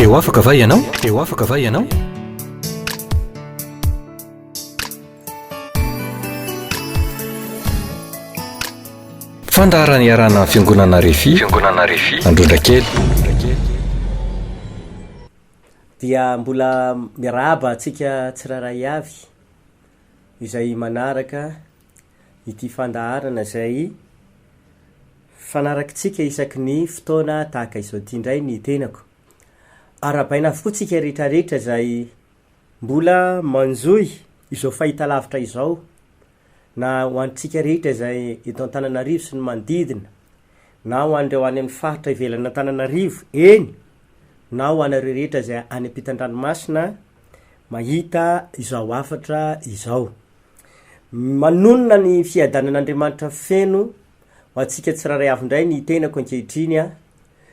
Dia ho afaka va ianao? Dia ho afaka va ianao? Fandaharana iarahana amin'ny Fiangonana Refi, Fiangonana Refi, Androndrakely. Dia mbola miarahaba antsika tsirairay avy izay manaraka ity fandaharana izay fanarakitsika isaky ny fotoana tahaka izao ity indray ny tenako. Arahabaina avokoa tsika rehetrarehetra izay mbola manjohy izao fahitalavitra izao na ho antsika rehetra izay eto Antananarivo sy ny manodidina na ho an'ireo any amin'ny faritra ivelan'Antananarivo, eny na ho anareo rehetra izay any am-pitan-dranomasina mahita izao hafatra izao. Manonona ny fiadanan'Andriamanitra feno ho antsika tsirairay avy indray ny tenako ankehitriny an!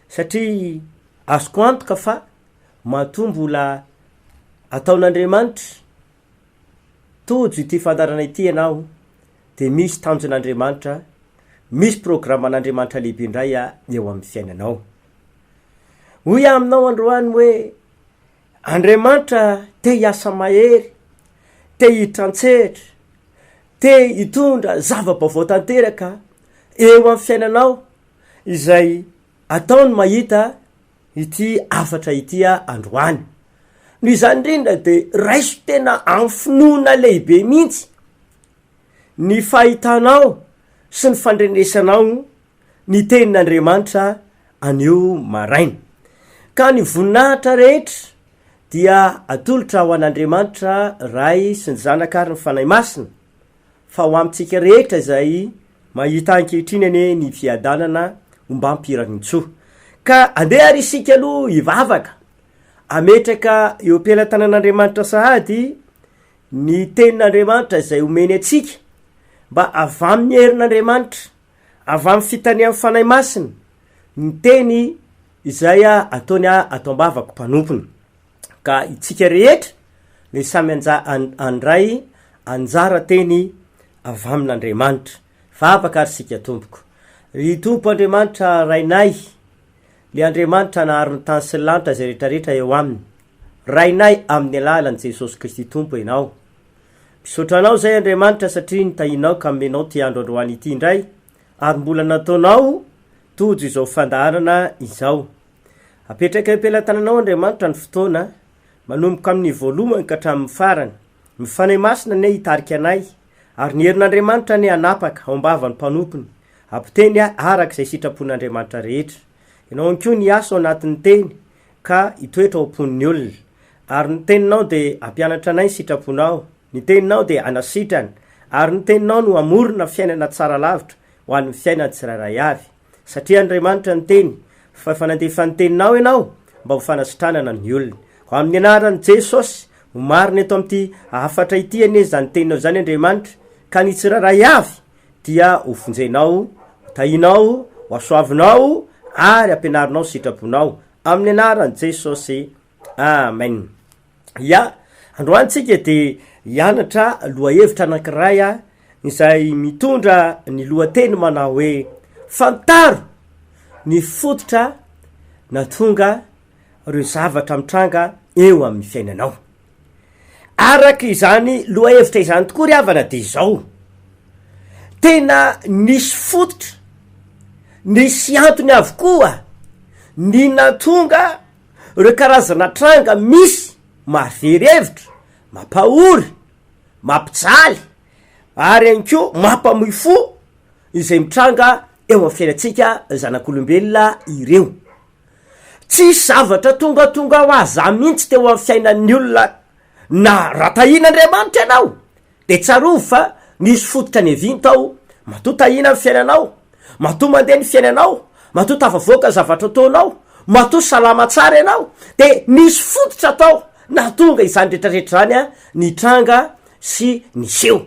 satria azoko antoka fa matoa mbola ataon'Andriamanitra tojo ity fandaharana ity ianao de misy tanjon'Andriamanitra, misy programan'Andriamanitra lehibe indray eo amin'ny fiainanao. Hoy aho aminao androany hoe. Andriamanitra te hiasa mahery, te hiditra an-tsehatra, te hitondra zava-baovao tanteraka eo amin'ny fiainanao izay ataony mahita ity hafatra ity aho androany. Noho izany indrindra dia raiso tena amin'ny finoana lehibe mihitsy ny fahitanao sy ny fandrenesanao ny tenin'Andriamanitra anio maraina. Ka ny voninahitra rehetra dia atolotra ho an'Andriamanitra Ray sy ny Zanaka ary ny Fanahy Masina, fa ho amintsika rehetra izay mahita ankehitriny anie ny fiadanana ombam-pirarintsoa. Ka andeha ary isika aloha hivavaka, ametraka eo am-pelatanan'Andriamanitra sahady ny tenin'Andriamanitra izay omeny antsika, mba avy amin'ny herin'Andriamanitra, Avy amin'ny fitanian'ny Fanahy Masina ny teny izay ataony ato am-bavako mpanompony. Ka itsika rehetra dia samy handray anjara teny avy amin'Andriamanitra. Vavaka ary isika tompoko. Ry Tompo Andriamanitra Rainay, Ilay Andriamanitra nahary ny tany sy ny lanitra izay rehetrarehetra eo aminy. Rainay amin'ny alalan'i Jesosy Kristy Tompo Ianao. Misaotra Anao izay Andriamanitra satria nitahianao ka omenao ity andro androany ity indray ary mbola nataonao tojo izao fandaharana izao. Apetraka eo am-pelatananao Andriamanitra ny fotoana manomboka amin'ny voalohany ka hatramin'ny farany. Ny Fanahy Masina anie hitarika anay ary ny herin'Andriamanitra anie hanapaka ao am-bavan'ny mpanompony hampiteny araka izay sitrapon'Andriamanitra rehetra. Ianao ihany koa ny hiasa ao anatin'ny teny ka hitoetra ao am-pon'ny olona. Ary ny teninao dia hampianatra anay ny sitraponao, ny teninao dia hanasitrana, ary ny teninao no hamorona fiainana tsara lavitra ho an'ny fiainan'ny tsirairay avy. Satria Andriamanitra niteny fa efa nandefa ny teninao ianao mba ho fanasitranana ny olona. Ho amin'ny anaran'i Jesosy, ho marina eto amin'ity hafatra ity anie izany teninao izany Andriamanitra, ka ny tsirairay avy dia ho vonjenao, ho tahinao, ho asoavinao ary ampianarinao sitrapon-ao amin'ny anaran'i Jesosy. Amen. Ya, androany tsika dia hianatra lohahevitra anankiray a, izay mitondra ny lohateny manao hoe fantaro ny fototra na tonga ireo zavatra mitranga eo amin'ny fiainanao. Araka izany lohahevitra izany tokoa ry havana dia izao, tena nisy fototra, nisy antony avokoa ny nahatonga ireo karazana tranga misy mahavery hevitra, mampahory, mampijaly ary ihany koa mampamoy fo izay mitranga eo amin'ny fiainantsika zanak'olombelona ireo. Tsisy zavatra tongatonga ho azy zany mihitsy teo amin'ny fiainan'ny olona na raha tahina Andriamanitra ianao dia tsarovy fa misy fototra niavianto aho matoa tahina ny fiainanao matoa mandeha ny fiainanao matoa tafavoaka ny zavatra ataonao matoa salama tsara ianao dia nisy fototra tao nahatonga izany retraretra izany nitranga sy niseho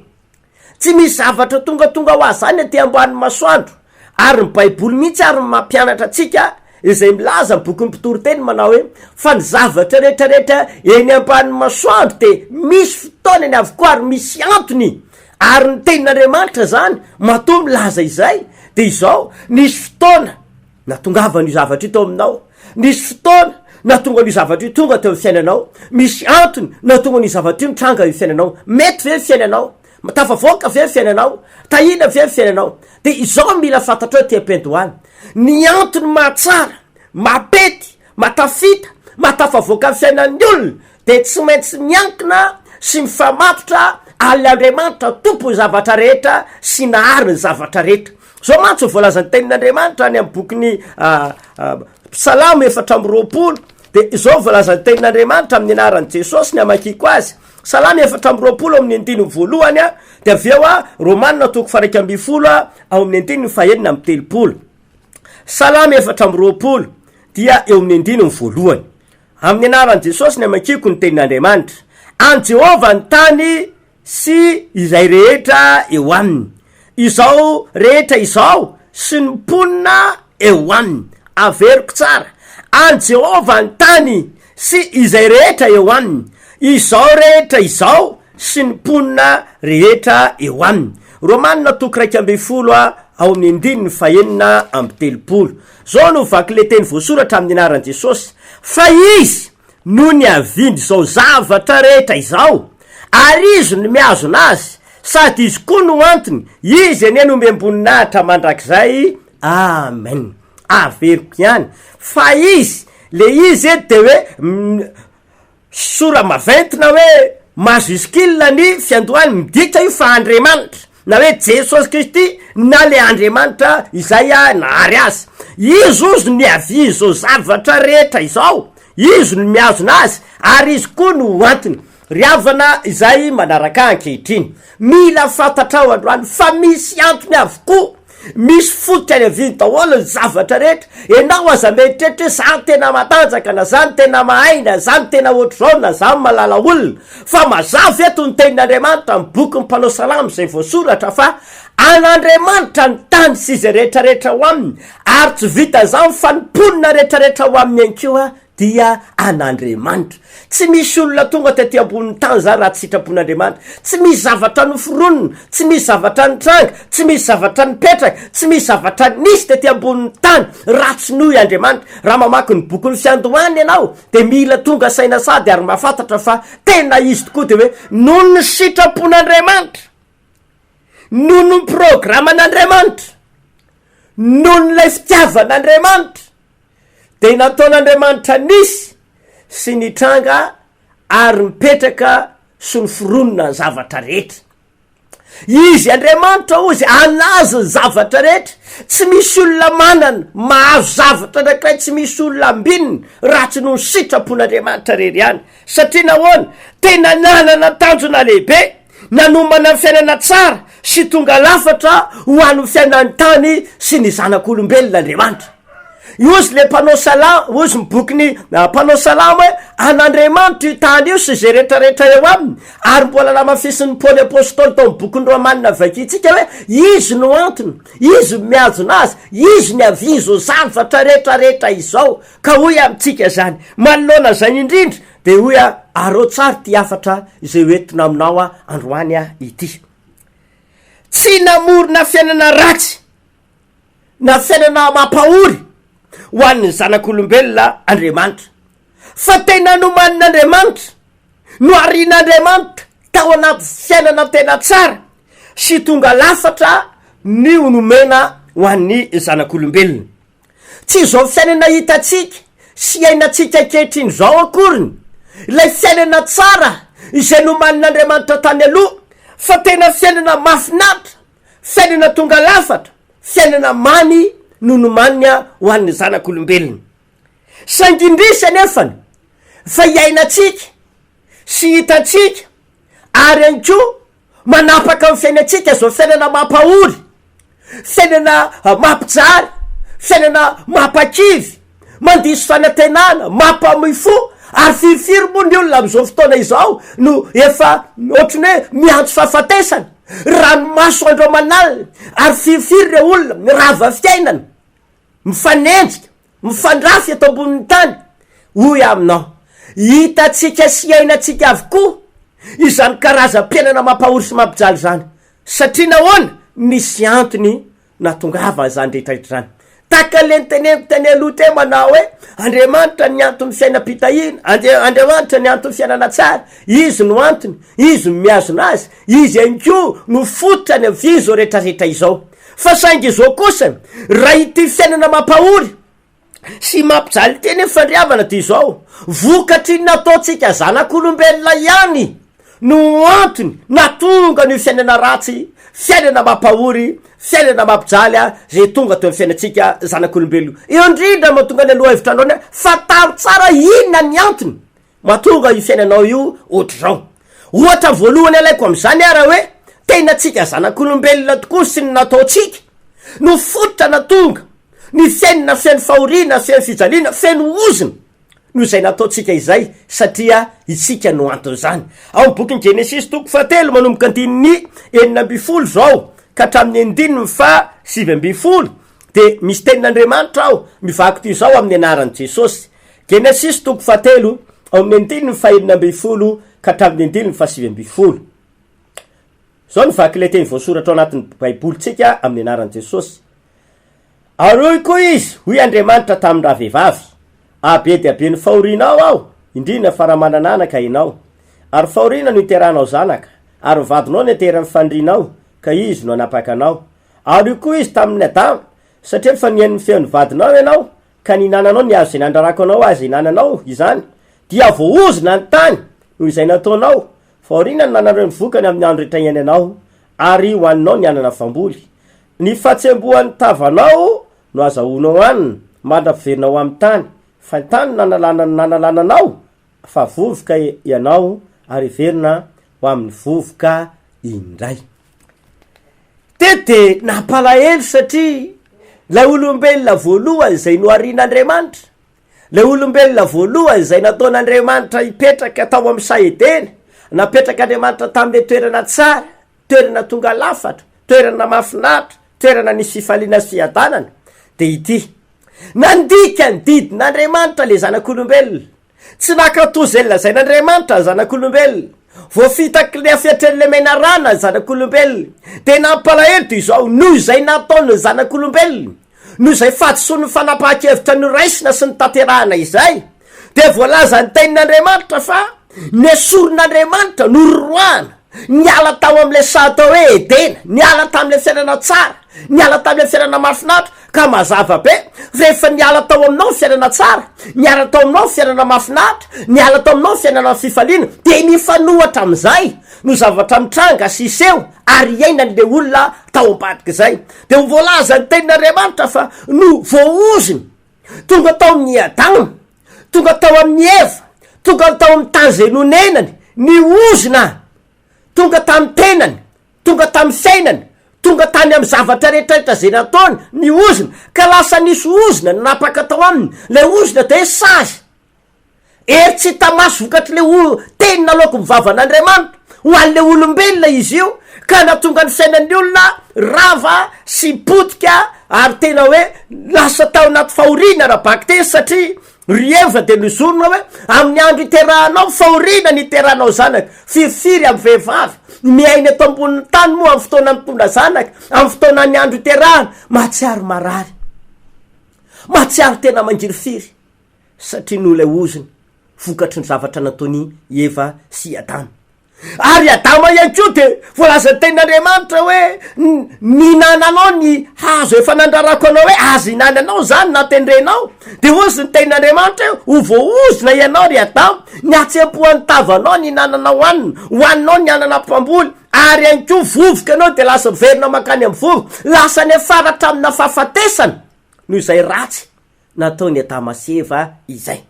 Tsy misy zavatra tongatonga ho azy izany aty ambany masoandro, ary ny baiboly mihitsy ary no mampianatra antsika izay milaza ny bokin'ny mpitoriteny manao hoe fa ny zavatra retraretra eny ambany masoandro dia misy fotoanany avokoa ary misy antony ary ny tenin'Andriamanitra izany matoa milaza izay dia izao nisy fotoana Nahatongavan' io zavatra io tao aminao. Nisy fotoana nahatonga an' io zavatra io tonga teo amin'ny fiainanao. Misy antony nahatonga an' io zavatra io nitranga io fiainanao. Mety ve ny fiainanao? Tafavoaka ve ny fiainanao? Tahiana ve ny fiainanao? Dia izao no mila fantatrao ity ampendohana, ny antony mahatsara, mahapety, mahatafita, mahatafavoaka ny fiainan'ny olona dia tsy maintsy miankina sy mifamatotra aln' Andriamanitra Tompon'ny zavatra rehetra sy Nahary ny zavatra rehetra. Zao mantsy no voalazan'ny tenin'Andriamanitra any amin'ny bokin'ny Salamo efatra amby roapolo, dia izao no voalazan'ny tenin'Andriamanitra amin'ny anaran'i Jesosy ny hamakiako azy, Salamo efatra amby roapolo ao amin'ny andininy voalohany a, dia avy eo a, Romana toko faraika ambin'ny folo a, ao amin'ny andininy fahenina amby telopolo. Salamo efatra amby roapolo dia eo amin'ny andininy voalohany. Amin'ny anaran'i Jesosy ny hamakiako ny tenin'Andriamanitra. An'i Jehovah ny tany sy izay rehetra eo aminy, izao rehetra izao sy ny mponina eo aminy. Averiko tsara, an'i Jehovah ny tany sy izay rehetra eo aminy, izao rehetra izao sy ny mponina rehetra eo aminy. Romanina toko iraika ambin'ny folo ao amin'ny andininy fahenina amby telopolo. Izao no vaky ilay teny voasoratra amin'ny anaran'i Jesosy, Fa izy, no niaviany izao zavatra rehetra izao, ary izy no mihazona azy, sady izy koa no antony, izy anie no miamboninahitra mandrakizay, amen, averiko ihany fa izy, le izy eto dia hoe sora maventy na hoe majuscule ny fiandohany, midika io fa Andriamanitra, Na hoe Jesosy Kristy na le Andriamanitra izay nahary azy. Izy ozy no niavia izao zavatra rehetra izao, izy no mihazona azy ary izy koa no ho antony. Ry havana izay manaraka ahy ankehitriny, mila fantatrao androany fa misy antony avokoa Misy fototra any aviany daholo ny zavatra rehetra, enao aza mieritreritra hoe za no tena matanjaka na za no tena mahay na za no tena ohatr'izao na za no malala olona fa mazava eto ny tenin'Andriamanitra amin'ny bokin'ny mpanao salamo izay voasoratra fa an'Andriamanitra ny tany sy izay rehetrarehetra ao aminy ary tsy vitan'izany fa ny mponina rehetrarehetra ao aminy ihany koa dia an'Andriamanitra. Tsy misy olona tonga tety ambonin'ny tany zany raha tsy sitrapon'Andriamanitra. Tsy misy zavatra noforonina, tsy misy zavatra nitranga, tsy misy zavatra nipetraka, tsy misy zavatra nisy tety ambonin'ny tany raha tsy noho i Andriamanitra. Raha mamaky ny bokin'ny Fiandohana ianao dia mila tonga saina sady ary mahafantatra fa tena izy tokoa dia hoe noho ny sitrapon'Andriamanitra, noho ny programan'Andriamanitra, noho ny ilay fitiavan'Andriamanitra dia nataon'Andriamanitra nisy sy nitranga ary mipetraka sy noforonina ny zavatra rehetra. Izy Andriamanitra ozy anazy ny zavatra rehetra, tsy misy olona manana mahazo zavatra anankiray tsy misy olona ambininy raha tsy noho ny sitrapon'Andriamanitra rery ihany. Satria nahoana? Tena nanana tanjona lehibe nanomana ny fiainana tsara sy tonga lafatra ho an'ny fiainan'ny tany sy ny zanak'olombelona Andriamanitra. Hozy le mpanao salamo, hozy ny bokin'ny mpanao salamo hoe an'Andriamanitra io tany io sy izay retraretra eo aminy, ary mbola namafisin'i Paoly Apostoly tao amin'ny bokin'ny Romanina vakintsika hoe izy no antony, izy no mihajona azy, izy ny avia izao zavatra retraretra izao, ka hoy amintsika izany manoloana izany indrindra dia hoy aho arao tsara ity hafatra izay ho entina aminao androany ity. Tsy namorona fiainana ratsy. nasaina na mampahory ho an'ny zanak'olombelona Andriamanitra, fa tena nomanin'Andriamanitra, noharian'Andriamanitra tao anaty fiainana tena tsara sy tonga lafatra ny ho nomena ho an'ny zanak'olombelona. Tsy izao fiainana hitantsika sy iainantsika ankehitriny izao akoriny ilay fiainana tsara izay nomanin'Andriamanitra tany aloha, fa tena fiainana mahafinaritra Fiainana tonga lafatra, fiainana mamy no nomaniny ho an'ny zanak'olombelona. Saingy indrisy anefany fa iainantsika sy hitantsika ary ihany koa manapaka ny fiainantsika izao fiainana mampahory, fiainana mampijaly, fiainana mampakivy. Mandiso fanantenana, mampamoy fo, ary firifiry moa ny olona amin'izao fotoana izao no efa ohatran'ny hoe miantso fahafatesana. Ranomaso andro aman'alina, ary firifiry ireo olona mirava fiainana, mifanenjika, mifandrafy eto ambonin'ny tany. Hoy aho aminao, hitantsika sy hiainantsika avokoa izany karazam-piainana mampahory sy mampijaly izany. Satria nahoana? Misy antony Nahatongava an'izany rehetra rehetra izany. Tahaka ilay noteneniko teny aloha teo manao hoe, Andriamanitra ny anton'ny fiainam-pitahiana, Andria- Andriamanitra ny anton'ny fiainana tsara, Izy no antony, Izy no mihazona azy, Izy ihany koa no fototrany amin'izao rehetra rehetra izao. Fa saingy izao kosa, raha ity fiainana mampahory, sy mampijaly teny ny fandriavana dia izao, vokatry ny nataontsika zanak'olombelona ihany no antony nahatonga an'io fiainana ratsy, fiainana mampahory, fiainana mampijaly izay tonga teo amin'ny fiainantsika zanak'olombelona io. Indrindra mahatonga ny lohahevitra andrahona fa taro tsara inona ny antony Matonga io fiainanao io otrzao. Ohatra voalohany alaiko amin'izany ara hoe tena tsika zanak'olombelona tokoa sy ny nataontsika no fototra natonga ny fiainana feno fahoriana, feno fijaliana, feno ozona noho izay nataontsika izay satria itsika no anton'izany. Ao amin'ny bokin'i Genesisy toko fahatelo manomboka andininy enina ambin'ny folo izao ka hatramin'ny andininy faha sivy ambin'ny folo dia misy tenin'Andriamanitra ao mivaky toy izao amin'ny anaran'i Jesosy. Genesisy toko fahatelo, ao amin'ny andininy fahenina ambin'ny folo ka hatramin'ny andininy fahasivy ambin'ny folo. Izao no vaky ilay teny voasoratra ao anatin'ny Baibolintsika amin'ny anaran'i Jesosy, Ary hoy koa izy, Hoy Andriamanitra tamin-dravehivavy, Ah, be dia be ny fahorianao aho, indrindra fa raha manana anaka ianao! Ary fahoriana no iteranao zanaka, ary ny vadinao no ateran'ny fanirianao, ka izy no hanapaka anao. Ary hoy koa izy tamin'i Adama, Satria efa nihaino ny feon'ny vadinao ianao, ka nihinananao ny hazo izay nandrarako anao aza ihinananao izany, dia voaozona ny tany noho izay nataonao, fa aoriana no nanananao ny vokany amin'ny andro rehetra iainanao, ary hohaninao ny anana voamboly. Ny fahatsembohan'ny tavanao no azahoanao hanina, mandra-piverina ho amin'ny tany, fa ny tany no nanalana ny nanalana anao, fa vovoka ianao ary heverina ho amin'ny vovoka indray. Teto dia nampalahelo satria ilay olombelona voalohany izay noharian'Andriamanitra, ilay olombelona voalohany izay nataon'Andriamanitra hipetraka tao amin'ny saha Edena, napetrak'Andriamanitra tamin'ilay toerana tsara, Toerana tonga lafatra, toerana mahafinaritra, toerana nisy fifaliana sy fiadanana, dia ity, Nandika ny didin'Andriamanitra ilay zanak'olombelona. Tsy nankatò izay nolazain'Andriamanitra ny zanak'olombelona. Voafitaky ny hafetren'ilay menarana ny zanak'olombelona. Dia nampalahelo toy izao noho izay nataon'ny zanak'olombelona. Noho izay fahadisoan'ny fanapahan-kevitra noraisina sy notanterahina izay, dia voalazan'ny Tenin'Andriamanitra fa nesorin'Andriamanitra, nororoahana, niala tao amin'ilay saha atao hoe Edena, niala tamin'ilay fiainana tsara, niala tamin'ilay fiainana mahafinaritra, ka mazava be fa rehefa niala tao aminao ny fiainana tsara, niala tao aminao ny fiainana mahafinaritra, niala tao aminao ny fiainana fifaliana, dia mifanohatra amin'izay no zavatra mitranga sy hiseho ary hiainany le olona tao ambadika izay de ho voalaza ny tenin'Andriamanitra fa no voahozony tonga tao amin'ny Adama tonga tao amin'ny Eva tonga tao amin'ny tany izay nonenany ny ozona tonga tamin'ny tenany tonga tamin'ny fiainany tonga tany amin'ny zavatra rehetrarehetra izay nataony ny ozona ka lasa nisy ozona nanapaka tao aminy ilay ozona de sazy Hery tsy hita maso vokatry le o teny naloako ny vavan' Andriamanitra ho an' le olombelona izy io ka natonga ny sainan' ny olona rava sy potika ary tena hoe lasa tao anaty fahoriana ra bakitey satria ry Eva dia nozorina hoe amin' ny andro hiterahanao fahoriana ny hiterahanao zanaka firifiry amin' ny vehivavy miaina eto ambonin' ny tany moa amin' ny fotoana mitondra zanaka amin' ny fotoana ny andro hiterahana mahatsiaro marary mahatsiaro tena mangirifiry. satria noho ilay ozona vokatry ny zavatra nataon' i Eva sy i Adama. Ary i Adama ihany koa dia voalazan'ny tenin' Andriamanitra hoe, Nihinananao ny hazo efa nandrarako anao hoe aza ihinananao izany na tendrenao. Dia hoy izy ny tenin' Andriamanitra hoe, Ho voaozona ianao ry Adama, ny hatsempohan'ny tavanao no ihinananao hanina, hohaninao ny anana mpamboly, ary ihany koa vovoka ianao dia lasa miverina mankany amin'ny vovoka. Lasa niafara tamina fahafatesana noho izay ratsy nataon'i Adama sy Eva izay.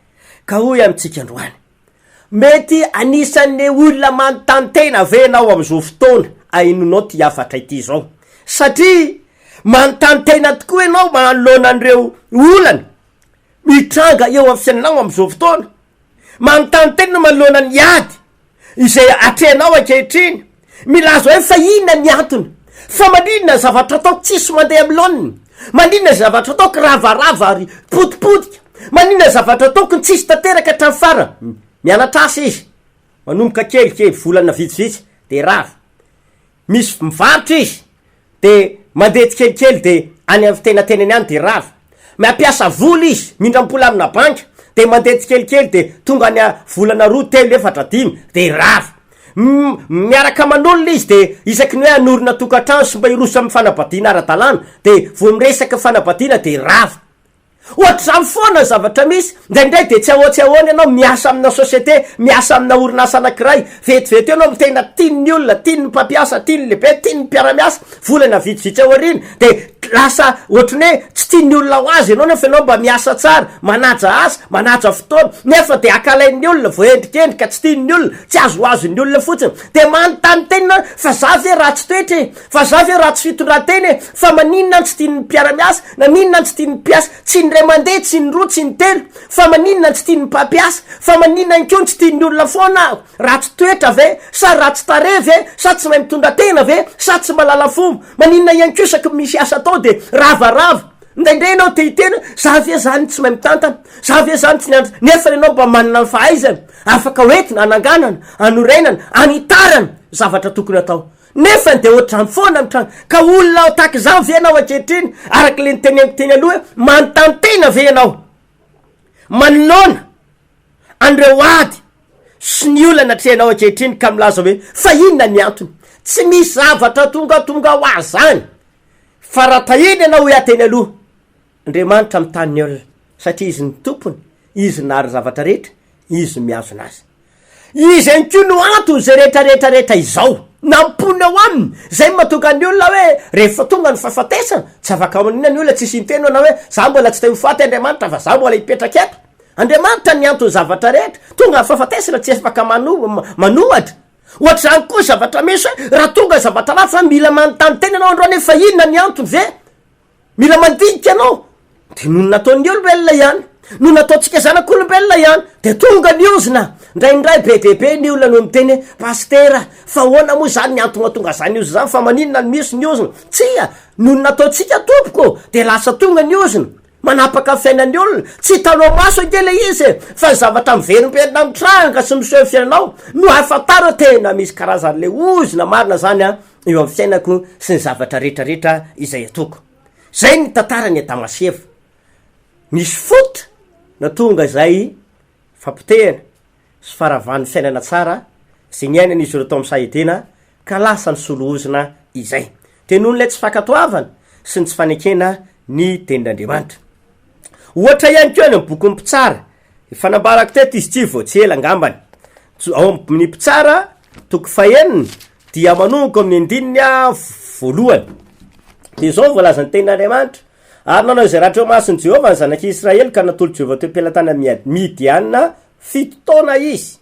Ka hoy amintsika androany, Mety anisan'ny olona manontany tena ve ianao amin'izao fotoana ahenoanao ity hafatra ity izao? Satria manontany tena tokoa ianao manoloana an'ireo olana mitranga eo amin'ny fiainanao amin'izao fotoana? Manontany tena manoloana ny ady izay atrehinao ankehitriny, milaza hoe fa inona ny antony, fa maninona zavatra ataoko tsisy mandeha amin'ny laoniny, maninona zavatra ataoko ravarava ary potipotika, maninona zavatra ataoko tsisy tanteraka hatramin'ny farany, mianatra asa izy, manomboka kelikely, volana vitsivitsy dia rava, misy mivarotra izy, dia mandeha tsikelikely dia any amin'ny fitenantenany any dia rava, mampiasa vola izy mindram-pola amina banky dia mandeha tsikelikely dia tonga any volana roa telo efatra dimy dia rava, miaraka aman'olona izy dia isaky ny hoe hanorina tokantrano sy mba hiroso amin'ny fanambadiana ara-dalàna dia vao miresaka fanambadiana dia rava. Ohatr'izany foana ny zavatra misy. Indraindray dia tsy ahoa tsy ahoana ianao miasa amina société, miasa amina orinasa anankiray. Vetivety eo ianao no tena tian'ny olona, tian'ny mpampiasa, tian'ny lehibe, tian'ny mpiara-miasa. Volana vitsivitsy aoriana dia lasa ohatry ny hoe tsy tian'ny olona ho azy ianao nefa ianao mba miasa tsara, manaja asa, manaja fotoana. Nefa dia akalain'ny olona, voaendrikendrika, tsy tian'ny olona, tsy azoazon'ny olona fotsiny. Dia manontany tena aho, fa za ve ratsy toetra e? Fa za ve ratsy fitondratena e, fa maninona an tsy tian'ny mpiaramiasa, naninona an tsy tian'ny mpiasa, tsy ny ray mandeha, tsy ny roa, tsy ny telo, fa maninona an tsy tian'ny mpampiasa, fa maninona ihany koa ny tsy tian'ny olona foana aho, ratsy toetra ve, sa ratsy tarehy ve, sa tsy mahay mitondra tena ve, sa tsy malala fomba, maninona ihany koa isaky ny misy asa atao dia ravarava, indraindray ianao te hiteny hoe za ve zany tsy mahay mitantana, za ve zany tsy nianatra, nefa ianao mba manana ny fahaizana afaka hoentina hananganana, hanorenana, hanitarana zavatra tokony atao. Nefany dia ohatr'izany foana ny tranga. Ka olona tahaka izany ve ianao ankehitriny? Araka ilay noteneniko teny aloha, manontany tena ve ianao? Manoloana an'ireo ady sy ny olana atrehinao ankehitriny ka milaza hoe fa inona ny antony? Tsy misy zavatra tongatonga ho azy izany fa raha tahiana ianao hoe aho teny aloha Andriamanitra mitany ny olona satria izy no tompony, izy nahary ny zavatra rehetra, izy no mihazona azy. Izy ihany koa no antony izay rehetra rehetra rehetra izao. Nampoiny ao aminy, izay no mahatonga ny olona hoe rehefa tonga ny fahafatesana, tsy afaka manina ny olona, tsisy inteny manao hoe za mbola tsy te ho faty Andriamanitra fa za mbola hipetraka eto. Andriamanitra ny anton'ny zavatra rehetra, tonga ny fahafatesana tsy afaka manohatra. Ohatr'izany koa ny zavatra misy hoe raha tonga zavatra ratsy za mila manontany tena ianao androany hoe fa inona ny antony ve? Mila mandinika anao de noho ny nataon'ny olombelona ihany noho nataontsika zanak'olombelona ihany de tonga ny ozona ndraindray be de be ny olona no miteny hoe pasitera fa ahoana moa zany ny antony mahatonga zany ozona zany fa maninona no misy ny ozona tsia noho ny nataontsika tompoko de lasa tonga ny ozona manapaka ny fiainan'ny olona tsy hitanao maso ange le izy e fa ny zavatra miverimberina mitranga sy miseho fiainanao no ahafantarao tena misy karazan'le ozona marina zany an eo amin'ny fiainako sy ny zavatra rehetra rehetra izay ataoko. Zay ny tantaran'i Adama sy Eva. Nisy faute natonga izay fapotehana sy faravan'ny fiainana tsara izay niainan'izy ireo tao amin'ny saha Edena ka lasa nisolo ozona izay. Dia noho ilay tsy fankatoavana sy ny tsy fanekena ny tenin'Andriamanitra. Ohatra ihany koa any amin'ny bokin'ny mpitsara, efa nambarako teto izy ity vao tsy ela angambany. Ao amin'ny mpitsara toko fahenina Dia manomboka amin'ny andininy voalohany. Dia izao no voalazan'ny tenin'Andriamanitra, Ary nanao izay raha teo amason'i Jehovah ny zanak'i Israely, ka natolotry Jehovah teo am-pelatanan'i Miad- Midiana fito taona izy.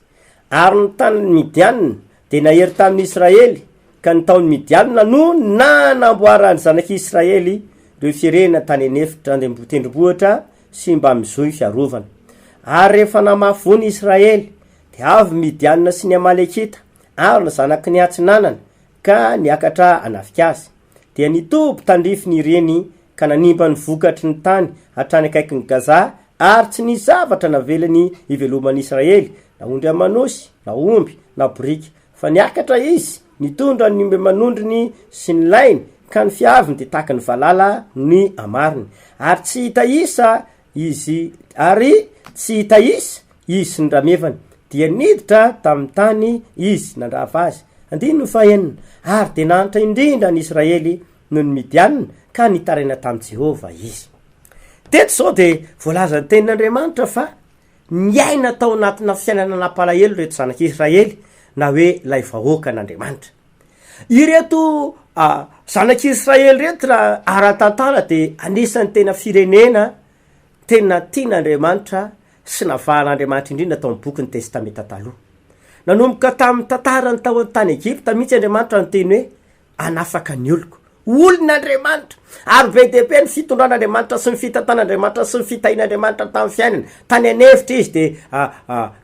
Ary ny tanin'i Midiana dia nahery tamin'i Israely, ka ny taon'i Midiana no nanamboaran'ny zanak'i Israely ireo firenena tany an'efitra andem- tendrombohitra sy mba amin'ny zohy fiarovana. Ary rehefa namafy voa ny Israely, dia avy ny Midiana sy ny Amalekita, Arona zanaky ny Atsinanana ka niakatra hanafik'azy. Dia nitoby tandrify ny reny ka nanimba ny vokatry ny tany hatrany akaikin'i Gaza ary tsy nisy zavatra navelany hiveloman'i Israely, na ondry aman'osy, na omby, na boriky. Fa niakatra izy, nitondra ny omby aman'ondriny sy ny lainy, ka ny fiaviny dia tahaky ny valala ny hamariny. Ary tsy hita isa Izy, ary tsy hita is izy sy ny ramevany, dia niditra tamin'ny tany izy nandrava azy. Andininy fahenina, Ary dia nahantra indrindra ny Israely noho ny Midianina, ka nitaraina tamin'i Jehovah izy. Teto izao dia voalaza ny tenin'Andriamanitra fa niaina tao anatina fiainana nampalahelo ireto zanak'i Israely, na hoe ilay vahoakan'Andriamanitra. Ireto zanak'i Israely ireto raha ara-tantara dia anisan'ny tena firenena tena tian'Andriamanitra sy navahan'Andriamanitra indrindra tao amin'ny bokin'ny Testamenta Taloha. Nanomboka tamin'ny tantarany tao an-tany Egypta mihitsy Andriamanitra niteny hoe hanafaka ny oloko. Olon'Andriamanitra, ary be dia be ny fitondran'Andriamanitra sy ny fitantan'Andriamanitra sy ny fitahian'Andriamanitra tamin'ny fiainany. Tany an'efitra izy dia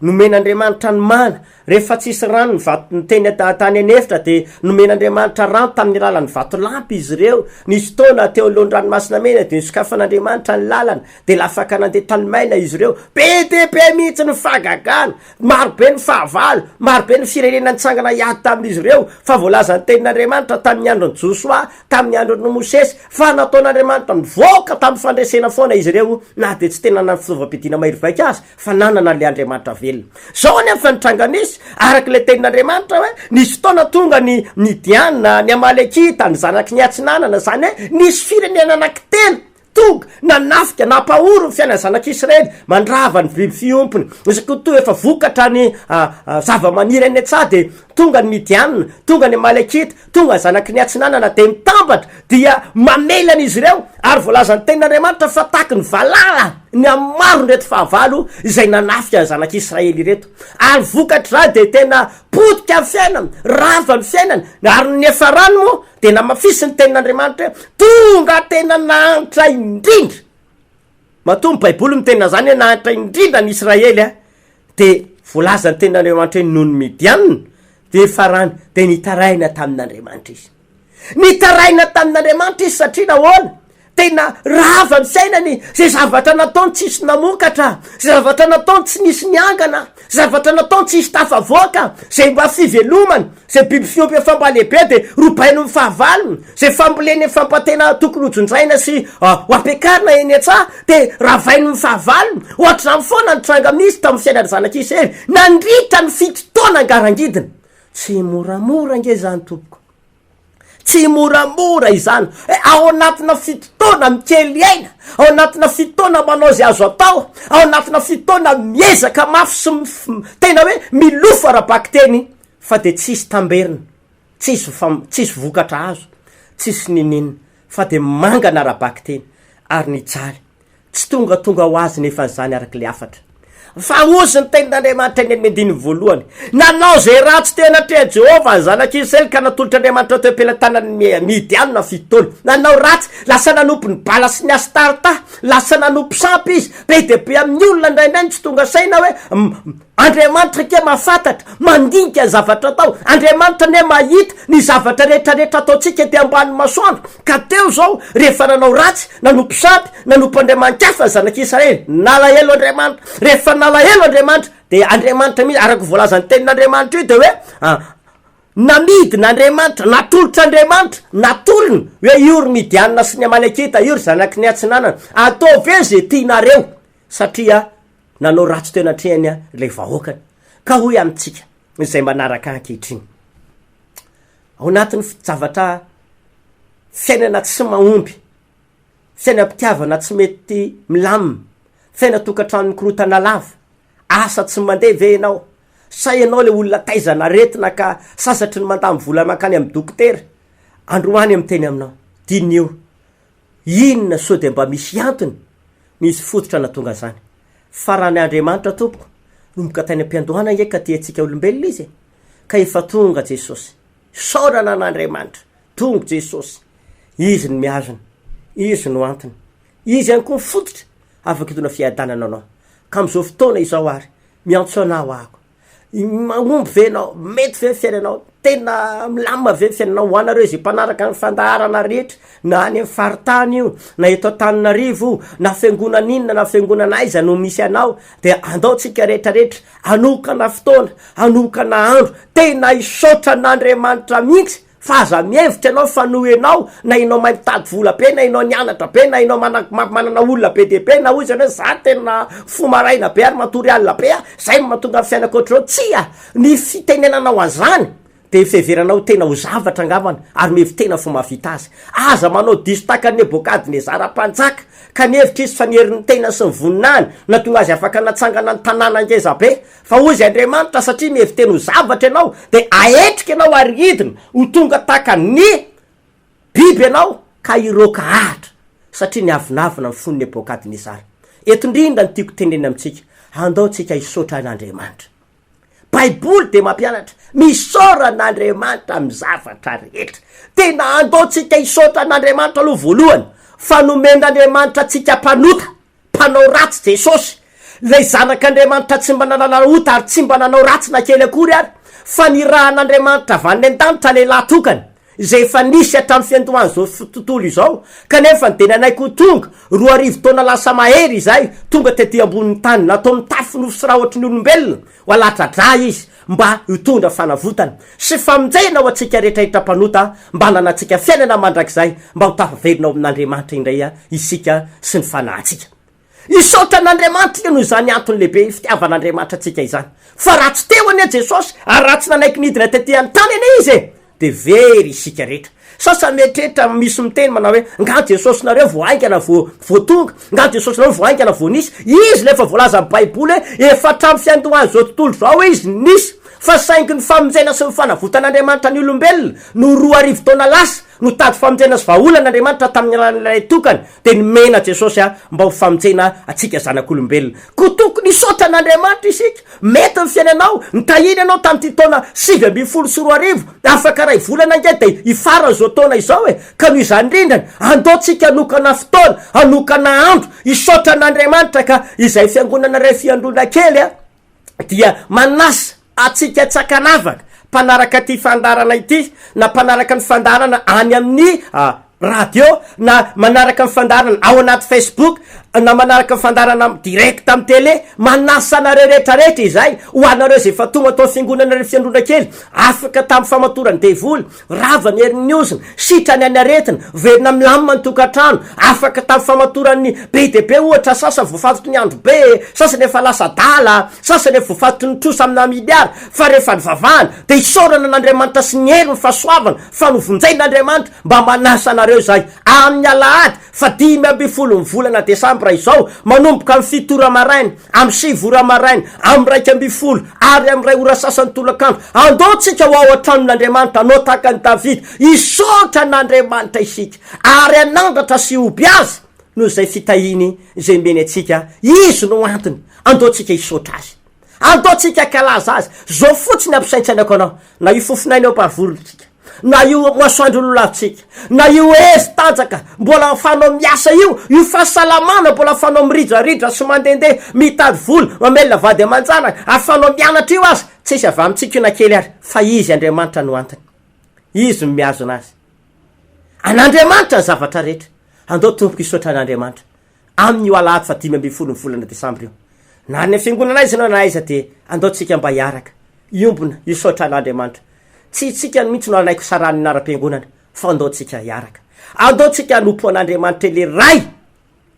nomen'Andriamanitra ny mana. Rehefa tsy hisy rano ny vato teny tany an'efitra dia nomen'Andriamanitra rano tamin'ny alalan'ny vatolampy izy ireo. Nisy fotoana teo alohan'ny Ranomasina Mena dia nosokafan'Andriamanitra ny lalana dia lafaka nandeha tany maina izy ireo. Be dia be mihitsy ny fahagagana! Maro be ny fahavalo, maro be ny firenena nitsangana hiady tamin'izy ireo, fa voalazan'ny Tenin'Andriamanitra tamin'ny andron'i Josoa, tamin'ny andron'i Mosesy, fa nataon'Andriamanitra nivoaka tamin'ny fandresena foana izy ireo, na dia tsy tena nanana fitaovam-piadiana mahery vaika aza, fa nanana an'ilay Andriamanitra velona. Izao anefa fa nitranga nisy, araka ilay Tenin'Andriamanitra, hoe nisy fotoana tonga ny Midiana, ny Amalekita, ny zanaky ny Atsinanana, izany hoe nisy firenena anankitelo Tonga, nanafika, nampahory ny fiainan'ny zanak'Israely, mandrava ny biby fiompiny, izay koa toa efa vokatra ny zavamaniry any an-tsaha, dia tonga ny Midianina, tonga ny Amalekita, tonga ny zanaky ny Atsinanana, dia mitambatra, dia mamely an'izy ireo, ary voalazan'ny Tenin'Andriamanitra fa tahaky ny valala ny amin'ny maron'ireto fahavalo izay nanafika ny zanak'Israely ireto, ary vokatr'izany dia tena potika ny fiainany, rava ny fiainany, ary ny niafarany moa dia namafisin' ny tenin' Andriamanitra hoe tonga tena nahantra indrindra, matoa ny baiboly miteny an'izany hoe nahantra indrindra ny Israely a, dia voalazan' ny tenin' Andriamanitra hoe noho ny Midianina dia farany dia nitaraina tamin' Andriamanitra izy, nitaraina tamin' Andriamanitra izy satria nahoana? Tena rava ny fiainany, zay zavatra nataony tsisy namokatra, zay zavatra nataony tsy nisy niangana, zavatra nataony tsisy tafavoaka, zay mba fivelomany, zay biby fiompy efa mba lehibe de robainy ny fahavalony, zay famboleny efa mba tena tokony hojinjaina sy ho ampiakarina eny an-tsaha de ravainy ny fahavalony, ohatr'izany foana ny tranga misy tamin'ny fiainan'ny zanak'i Isery nandritra ny fito taona ngarangidina. Tsy moramora ange izany tompoko. Tsy moramora izany hoe ao anatina fito taona mikely aina, ao anatina fito taona manao izay azo atao, ao anatina fito taona miezaka mafy sy tena hoe milofo ara-bakiteny fa dia tsisy tamberina, tsisy tsisy vokatra azo, tsisy niniana fa dia mangana ara-bakiteny ary nijaly. Tsy tongatonga ho azy nefa izany araka ilay hafatra. Fa hozy ny tenin'Andriamanitra eny amin'ny andininy voalohany, Nanao izay ratsy teo anatrehan'i Jehovah ny zanak'Israely, ka natolotr'Andriamanitra teo am-pelatanan'ny Midianina fito taona. Nanao ratsy, lasa nanompo ny Bala sy ny Astarta, lasa nanompo sampy izy. Be dia be amin'ny olona indraindray no tsy tonga saina hoe, Andriamanitra anie mahafantatra, mandinika ny zavatra atao. Andriamanitra anie mahita ny zavatra rehetrarehetra ataontsika ety ambanin'ny masoandro. Ka teo izao, rehefa nanao ratsy, nanompo sampy, nanompo andriamani-kafa ny zanak'i Israely, nalahelo Andriamanitra. Rehefa nalahelo Andriamanitra, dia Andriamanitra mihitsy, araka ny voalazan'ny Tenin'Andriamanitra io, dia hoe, ah, namidina Andriamanitra, natolotra Andriamanitra, natolony, hoe io ry Midianina sy ny Amalekita, io ry zanaky ny Atsinanana, ataovy hoe izay tianareo, satria, Nanao ratsy teo anatrehany ilay vahoakany, ka hoy amintsika izay manaraka ahy ankehitriny, Ao anatin'ny fi-javatra fiainana tsy mahomby, fiainam-pitiavana tsy mety milamina, fiainan-tokantrano mikorontana lava, asa tsy mandeha ve ianao? Sa ianao ilay olona taizana aretina ka sasatry ny mandany vola mankany amin'ny dokotera? Androany miteny aminao. Diniho. Inona sao dia mba misy antony nisy fototra natonga zany? Fa raha ny Andriamanitra tompoko nomboka tany ampiandohana nge ka tia antsika olombelona izy e! Ka efa tonga Jesosy. Isaorana an Andriamanitra, tonga Jesosy. Izy no mihazona. Izy no antony. Izy ihany koa ny fototra afaka hitondra fiadanana anao. Ka amin'izao fotoana izao ary, miantso anao ahako. Mahomby ve ianao? Mety ve ny fiainanao? Tena milamina ve ny fiainanao? Ho anareo izay mpanaraka ny fandaharana rehetra, na any amin'ny faritany io, na eto Antananarivo io, na fiangonana inona na fiangonana aiza no misy anao, dia andao tsika rehetra rehetra hanokana fotoana, hanokana andro, tena hisaotra an'Andriamanitra mihitsy Fa aza mihevitra ianao fa noho ianao, na ianao mahay mitady vola be, na ianao nianatra be, na ianao manana olona be dia be, na hoy izany hoe za tena fo maraina be ary matory alina be a, zay no mahatonga ny fiainako ohatr'izao. Tsia! Ny fitenenanao an'izany dia fiheverana ho tena ho zavatra angambany ary mihevi-tena fa mahavita azy. Aza manao diso tahaka an'i Nebokadnezara mpanjaka, ka nihevitra izy fa ny herin'ny tenany sy ny voninahiny no nahatonga azy afaka natsangana ny tanàna ngeza be, Fa hoy izay Andriamanitra, satria mihevi-teny ho zavatra ianao, dia ahetrika ianao ary hidina, ho tonga tahaka ny biby ianao, ka hiroaka hahatra, satria niavonavona ny fony Nebokadnesara. Eto indrindra no tiako tenenina amintsika, andao tsika hisaotra an'Andriamanitra. Baiboly dia mampianatra, misaora an'Andriamanitra amin'ny zavatra rehetra. Tena andao tsika hisaotra an'Andriamanitra aloha voalohany, fa nomen'Andriamanitra antsika mpanota, Mpanao ratsy Jesosy, ilay Zanak'Andriamanitra tsy mba nanana ota ary tsy mba nanao ratsy na kely akory ary, fa nirahan'Andriamanitra avy any an-danitra lehilahy tokana, izay efa nisy hatramin'ny fiandohan'izao tontolo izao, kanefa dia nanaiky ho tonga, roa arivo taona lasa mahery izay, tonga tety ambonin'ny tany, nataony tafy nofo sy rahotry ny olombelona, Ho alatradra Izy mba hitondra fanavotana sy famonjena ho antsika rehetra hetra mpanota mba hananantsika fiainana mandrakizay mba ho tafaverina ao amin'Andriamanitra indray isika sy ny fanahintsika. Hisaotra an'Andriamanitra noho izany antony lehibe fitiavan'Andriamanitra antsika izany. Fa raha tsy teo anie Jesosy ary raha tsy nanaiky nidina tety an-tany anie Izy e! de very isika rehetra. Sasa mieritreritra misy miteny manao hoe nga Jesosinareo vao haingana vao vao tonga, nga Jesosinareo vao haingana vao nisy. Izy le efa voalazan'ny Baiboly hoe efa hatramin'ny fiandohan'izao tontolo izao izy nisy fa saingy ny famonjena sy ny fanavotan'Andriamanitra ny olombelona no roa arivo taona lasa no tady famonjena sy vahaolan'Andriamanitra tamin'ny alalan'ilay tokany Dia nomena Jesosy ahy mba ho famonjena antsika zanak'olombelona. Koa tokony hisaotra an'Andriamanitra isika. Mety ny fiainanao, nitahiany anao tamin'ity taona sivy ambin'ny folo sy roa arivo, afaka iray volana ange dia hifaran'izao taona izao e! Ka noho izany rindrany, andao tsika hanokana fotoana, hanokana andro, hisaotra an'Andriamanitra ka izay fiangonana iray fiandroana kely dia manasa Antsika tsy ankanavaka mpanaraka ity fandaharana ity na mpanaraka ny fandaharana any amin'ny radio na manaraka ny fandaharana ao anaty Facebook na manaraka ny fandaharana direct amin'ny tele. Manasa anareo retraretra izay, ho anareo izay efa tonga tao amin'ny fiangonana ry fiangonakely, afaka tamin'ny famatoran'ny devoly, Rava ny herin'ny ozona, sitrana ny aretina, velona milamina ny tokantrano, afaka tamin'ny famatoran'ny be dia be ohatra, sasany voafatoky ny andro be, sasany efa lasa adala, sasany efa voafatoky ny trosa amina miliara, fa rehefa nivavahana dia isaorana an'Andriamanitra sy ny heriny fahasoavana fa novonjein'Andriamanitra mba manasa anareo izahay amin'ny alahady fahadimy ambin'ny folo ny volana desambra izao manomboka amin'ny fito ora maraina Amin'ny sivy ora maraina, amin'ny iraika ambin'ny folo, ary amin'ny iray ora sasany tolakandro, andao isika ho ao an-tranon'Andriamanitra, hanao tahaka an'i Davida, hisaotra an'Andriamanitra isika, ary hanandratra sy hoby Azy noho izay fitahiany izay omeny antsika. Izy no antony. Andao isika hisaotra Azy. Andao isika hankalaza Azy. Izao fotsiny ampisaintsainako anao, na io fofon'aina io amparivolo isika. Na io masoandro lolavintsika, na io hery tanjaka mbola afanao miasa io, io fahasalamana mbola afanao miridraridra sy mandehandeha mitady vola, mamelona vady aman-janaka, afanao mianatra io aza, tsisy avy amintsika io na kely ary, fa Izy Andriamanitra no antony. Izy no mihazona azy. An'Andriamanitra ny zavatra rehetra. Andao tompoko hisaotra an'Andriamanitra. Amin' io alahady faha dimy ambin'ny folo ny volana desambra io, na any amin'ny fiangonana aiza ianao na aiza dia andao tsika mba hiaraka, hiombona, hisaotra an' Andriamanitra. Tsy itsika any mihitsy no hanaiky ho sarahany ny laram-piangonana fa andao tsika hiaraka. Andao tsika hanompo an' Andriamanitra Ilay Ray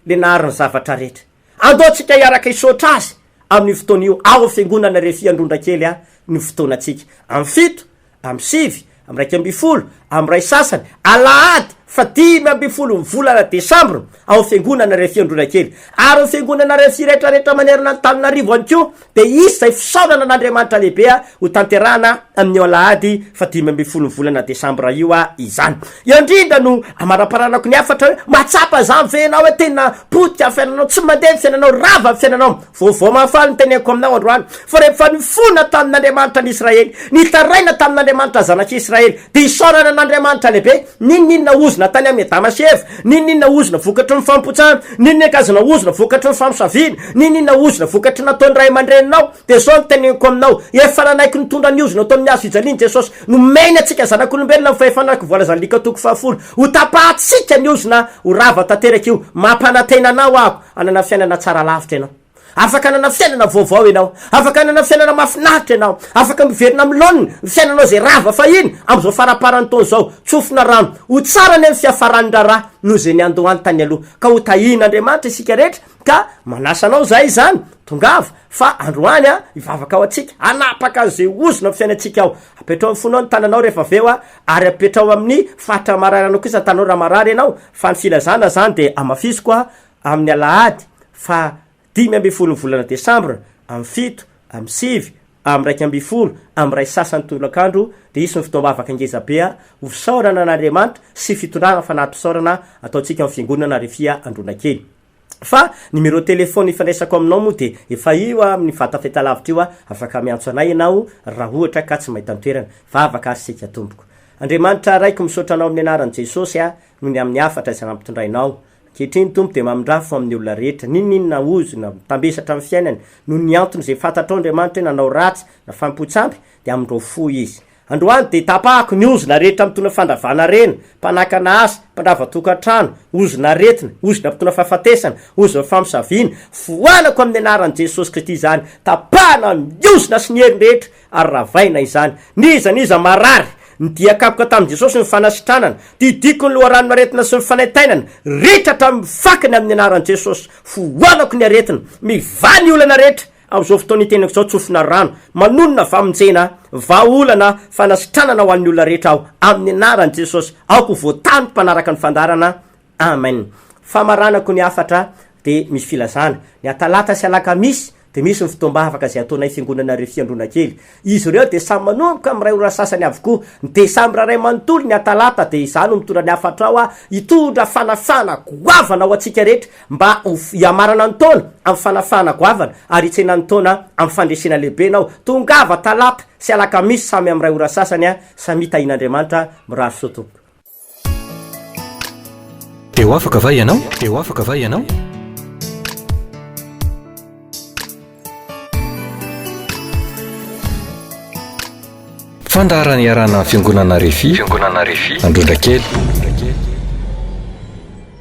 Ilay nahary ny zavatra rehetra. Andao tsika hiaraka hisaotra Azy amin' io fotoana io ao amin'ny fiangonana rehefa hiandrondra kely ny fotoanantsika. Amin'ny fito Am sivy, am raika ambin'ny folo, am ray sasany, alahady fa dimy ambin'ny folo ny volana desambra, ao fiangonana iray fiandroana kely, ary ny fiangonana iray firetraretra manerana an'Antananarivo ihany koa, dia hisy izay fisaonana an'Andriamanitra lehibe ho tanterahana amin'io alahady fa dimy ambin'ny folo ny volana desambra io izany. Eo indrindra no amanamparanako ny hafatra hoe, mahatsapa izany ve ianao hoe tena potika ny fiainanao, tsy mandeha ny fiainanao, rava ny fiainanao? Vaovao mahafaly no teneniko aminao androany, fa rehefa nifona tamin'Andriamanitra ny Israely, nitaraina tamin'Andriamanitra zanak'i Israely, dia isaorana an'Andriamanitra lehibe, n'inon'inona ozona tany amin'i Adama sy Eva, n'inon'inona ozona vokatry ny famopotsana, n'inon'inon'kazona ozona vokatry ny famosaviana, n'inon'inona ozona vokatry ny nataon'ny ray aman-dreninao, dia izao no teneniko aminao, efa nanaiky nitondra ny ozona tao amin'ny hazo fijaliany Jesosy, nomeny antsika zanak'olombelona amin'ny fahefana araka ny voalazan'ny Lika toko fahafolo, hotapahantsika ny ozona ho rava tanteraka io, mampanantena anao aho, Hanana fiainana tsara lavitra ianao. Afaka hanana fiainana vaovao ianao. Afaka hanana fiainana mahafinaritra ianao. Afaka miverina amin'ny laoniny ny fiainanao izay rava fahiny amin'izao faramparan'ny taona izao. Tsofina rano. Ho tsara anie ny fiafaran'ny raharaha noho izay niandohany tany aloha. Ka ho tahian'Andriamanitra isika rehetra. Ka manasa anao izahay izany, tongava, fa androany hivavaka ho antsika. Hanapaka an'izay ozona amin'ny fiainantsika aho. Apetraho amin'ny fonao ny tananao rehefa avy eo. Ary apetraho amin'ny faritra mararana kosa tanao raha marary ianao, fa ny filazana izany dia hamafisiko aho amin'ny alahady faha dimy ambin'ny folon'ny volana desambra, amin'ny fito, amin'ny sivy, amin'ny iraika ambin'ny folo, amin'ny iray sasany tolakandro, dia hisy ny fotoam-bavaka ngezabe ho fisaorana an'Andriamanitra sy fitondrana fanati-pisaorana ataontsika ao amin'ny fiangonana Refia Andronakely. Fa numéro téléphone ifandraisako aminao moa dia efa io aho amin'ny vata fahitalavitra io aho, afaka miantso anay ianao raha ohatra ka tsy mahita an-toerana. Vavaka ary seika tompoko. Andriamanitra Raiko misaotra anao amin'ny anaran'i Jesosy aho noho ny amin'ny hafatra izay nampitondrainao. Ankehitriny Tompo dia mamindrà fo amin'ny olona rehetra n'inon'inona ozona mitambesatra amin'ny fiainany noho ny antony izay fantatrao Andriamanitra hoe nanao ratsy na fanompoan-tsampy dia amindrao fo izy. Androany dia tapahako ny ozona rehetra mitondra fandravana harena, mpanakana asa, mpandrava tokantrano, ozona aretina, ozona mitondra fahafatesana, ozon'ny famosaviana, foanako amin'ny anaran'i Jesosy Kristy izany, tapahana ny ozona sy ny heriny rehetra ary ravaina izany. N'iza n'iza marary, ny dia kapoka tamin'i Jesosy ny fanasitranana, didiko ny loharanon'aretina sy ny fanaintainana, ritra hatramin'ny fakany amin'ny anaran'i Jesosy, foanako ny aretina, mivaha ny olana rehetra, Amin'izao fotoana itenenako izao tsofina rano manonona famonjena, vahaolana, fanasitranana ho an'ny olona rehetra aho amin'ny anaran'i Jesosy. Aoka ho voatany ny mpanaraka ny fandaharana. Amen. Famaranako ny hafatra dia misy filazana. Ny atalata sy alakamisy dia misy ny fotoam-bavaka izay ataonay fiangonana Refy Andronakely. Izy ireo dia samy manomboka amin'ny iray ora sasany avokoa. Ny desambra iray manontolo ny Atalata dia izaho no mitondra ny hafatro aho hitondra fanafahana goavana ho antsika rehetra mba ho hiamarana ny taona amin'ny fanafahana goavana ary hitsena ny taona amin'ny fandresena lehibe ianao. Tongava Talata sy Alakamisy samy amin'ny iray ora sasany samia tahian'Andriamanitra. Mirary soa tompoko. Dia ho afaka va ianao? Dia ho afaka va ianao? Fandaharana iarahana amin'ny Fiangonana Refi, Fiangonana Refi, Androndrakely.